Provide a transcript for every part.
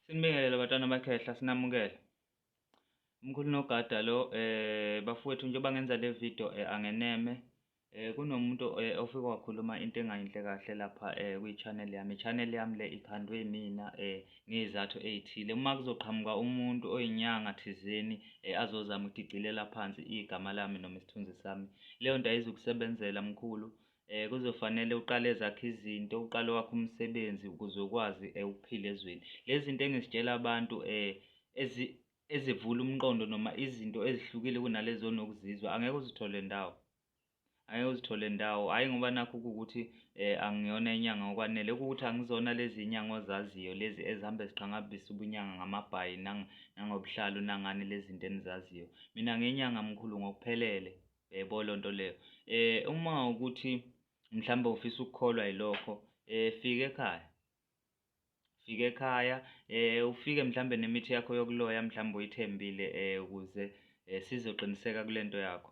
Sinibingelele batwana bakhehla sinamukele. Umkhulu nogada lo eh bafowethu njengoba ngenza le video eh, angeneme eh kunomuntu eh, ofike wakhuluma into engayinhle kahle lapha eh kwi-channel yami. I-channel yami le ikhandwe mina eh ngezathu ezithile. Uma kuzoqhamuka umuntu oyinyanga thizeni eh, azozama ukuthi igcilela phansi igama lami noma isithunzi sami. Leyo nto ayizukusebenzela mkhulu. Eh kuzofanele uqale ezakhe izinto, uqale wakhe umsebenzi ukuze ukwazi eh, ukuphila ezweni. Lezi zinto engizitshela abantu eh ezi ezivula umqondo noma izinto ezihlukile kunalezo onokuzizwa angeke uzithole ndawo. Angeke uzithole ndawo. Hayi ngoba nakho ukuthi eh angiyona inyanga okwanele ukuthi angizona lezi inyanga ozaziyo lezi ezihambe ziqhangabisa ubunyanga ngamabhayi nangobuhlalu nangani lezi zinto enizaziyo. Mina ngenyanga mkhulu ngokuphelele. yebo loo nto leyo um uma ukuthi mhlawumbe ufisa ukukholwa yilokho um fika ekhaya fika ekhaya um ufike mhlawumbe nemithi yakho yokuloya mhlawumbe uyithembile um ukuze um sizoqiniseka kule nto yakho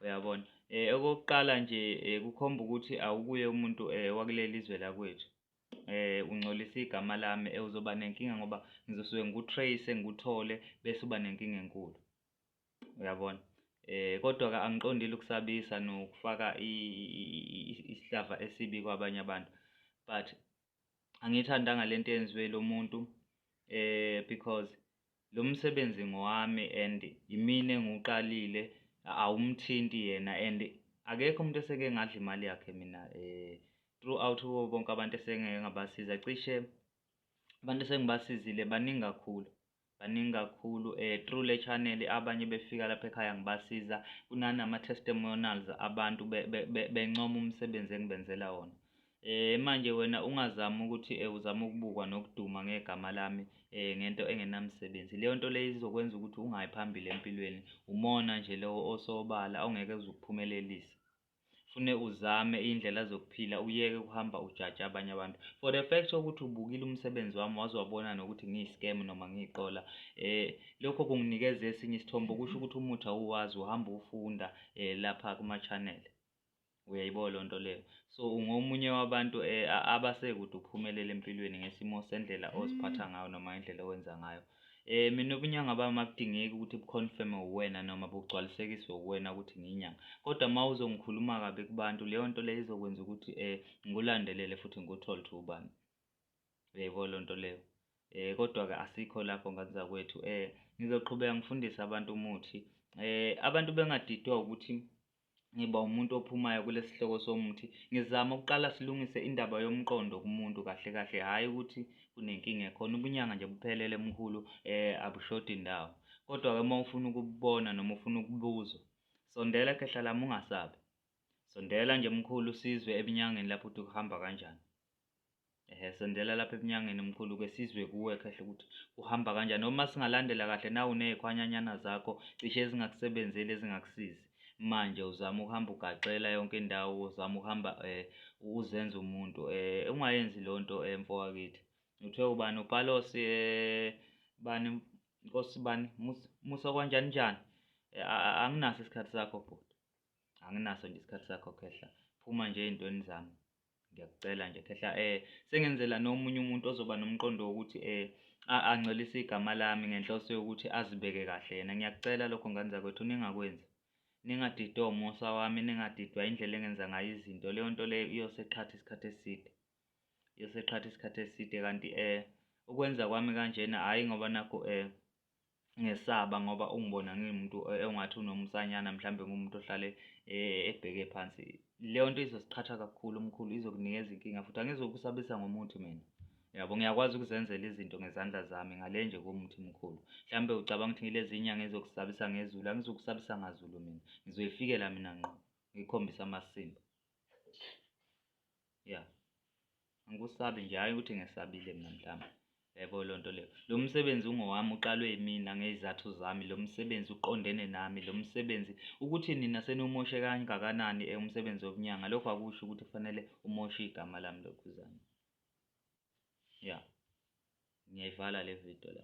uyabona um okokuqala nje um kukhomba ukuthi awukuye umuntu um wakuleli zwe lakwethu eh ungcolisa igama lami eh, uzoba nenkinga ngoba ngizosuke ngikutrace ngikuthole bese uba nenkinga enkulu uyabona eh kodwa ke angiqondile ukusabisa nokufaka isihlava esibi kwabanye abantu but angithandanga lento yenziwe lo muntu eh because lo msebenzi ngowami and yimina engiwuqalile awumthinti yena and akekho umuntu eseke ngadla imali yakhe mina eh throughout kubo bonke abantu esengeke ngabasiza cishe abantu esengibasizile baningi kakhulu baningi kakhulu eh through le channel abanye befika lapha ekhaya ngibasiza kunanama testimonials abantu bencoma umsebenzi engibenzela wona eh manje wena ungazama ukuthi eh, uzama ukubukwa nokuduma ngegama lami eh ngento engenamsebenzi leyo nto leyo izokwenza ukuthi ungayi phambili empilweni umona nje lowo osobala ongeke uzukuphumelelisa fune uzame iy'ndlela zokuphila uyeke ukuhamba ujaja abanye abantu for the fact sokuthi ubukile umsebenzi wami waze wabona nokuthi ngiyi-scam noma ngiyiqola um lokho kunginikeza esinye isithombo kusho ukuthi umuthi awuwazi uhamba ufunda um eh, lapha kuma-channel uyayibo loo nto leyo so ungomunye wabantu um abasekude uphumelele empilweni ngesimo sendlela oziphatha ngayo noma indlela owenza ngayo Eh mina ubunyanga bami akudingeki ukuthi buconfirme uwena noma bugcwalisekiswe uwena ukuthi ngiyinyanga. Kodwa uma uzongikhuluma kabi kubantu leyo nto leyo izokwenza ukuthi eh ngikulandelele futhi ngikuthole ukuthi ubani. Uyaybo lo nto leyo. Eh kodwa ke asikho lapho ngane zakwethu. Eh ngizoqhubeka ngifundise abantu umuthi. Eh abantu bengadidwa ukuthi ngiba umuntu ophumayo kulesi sihloko somuthi ngizama ukuqala silungise indaba yomqondo kumuntu kahle kahle hhayi ukuthi kunenkinga ekhona ubunyanga nje buphelele mkhulu eh abushodi ndawo kodwa-ke uma ufuna ukubona noma ufuna ukubuzwa sondela khehla lami ungasabi sondela nje mkhulu sizwe ebunyangeni lapho ukuthi kuhamba kanjani ehe sondela lapha ebunyangeni mkhulu ke sizwe kuwe kahle ukuthi uhamba kanjani noma singalandela kahle nawu nezikhwanyanyana zakho cishe ezingakusebenzeli ezingakusizi manje uzama ukuhamba ugaxela yonke indawo uzama ukuhamba eh uzenza umuntu eh ungayenzi lonto emfo eh, wakithi uthe ubani upalos eh bani inkosi bani musa kwanjani njani eh, anginaso isikhathi sakho bhuti anginaso nje isikhathi sakho khehla phuma nje ezintweni zami ngiyakucela nje khehla eh sengenzela nomunye umuntu ozoba nomqondo wokuthi eh ancelise igama lami ngenhloso yokuthi azibeke kahle yena ngiyakucela lokho ngane zakwethu ningakwenzi ningadidwa umusa wami ningadidwa indlela engenza ngayo izinto leyo nto leyo iyoseqhatha isikhathi eside iyoseqhatha isikhathi eside kanti eh ukwenza kwami kanjena hhayi ngoba nakho eh ngesaba ngoba ungibona ngiwumuntu e, ongathi unomsanyana mhlawumbe ngumuntu ohlale e, ebheke phansi leyo nto izosiqhatha kakhulu umkhulu izokunikeza inkinga futhi angizokusabisa ngomuthi mina yabo ngiyakwazi ukuzenzela izinto ngezandla zami ngale nje komuthi mkhulu mhlawumbe ucabanga ukuthi ngilezi inyanga ezokusabisa ngezulu angizokusabisa ngazulu mina ngizoyifikela mina ngqo ngikhombisa amasimba ya angikusabi nje hhayi ukuthi ngesabile mina mhlawumbe yebo loo nto leyo lo msebenzi ungowami uqalwe yimina ngey'zathu zami lo msebenzi uqondene nami lo msebenzi ukuthi nina seniwumoshe kangakanani eh, umsebenzi wokunyanga lokho akusho ukuthi kufanele umoshe igama lami lokhuzana ya ngiyayivala le video la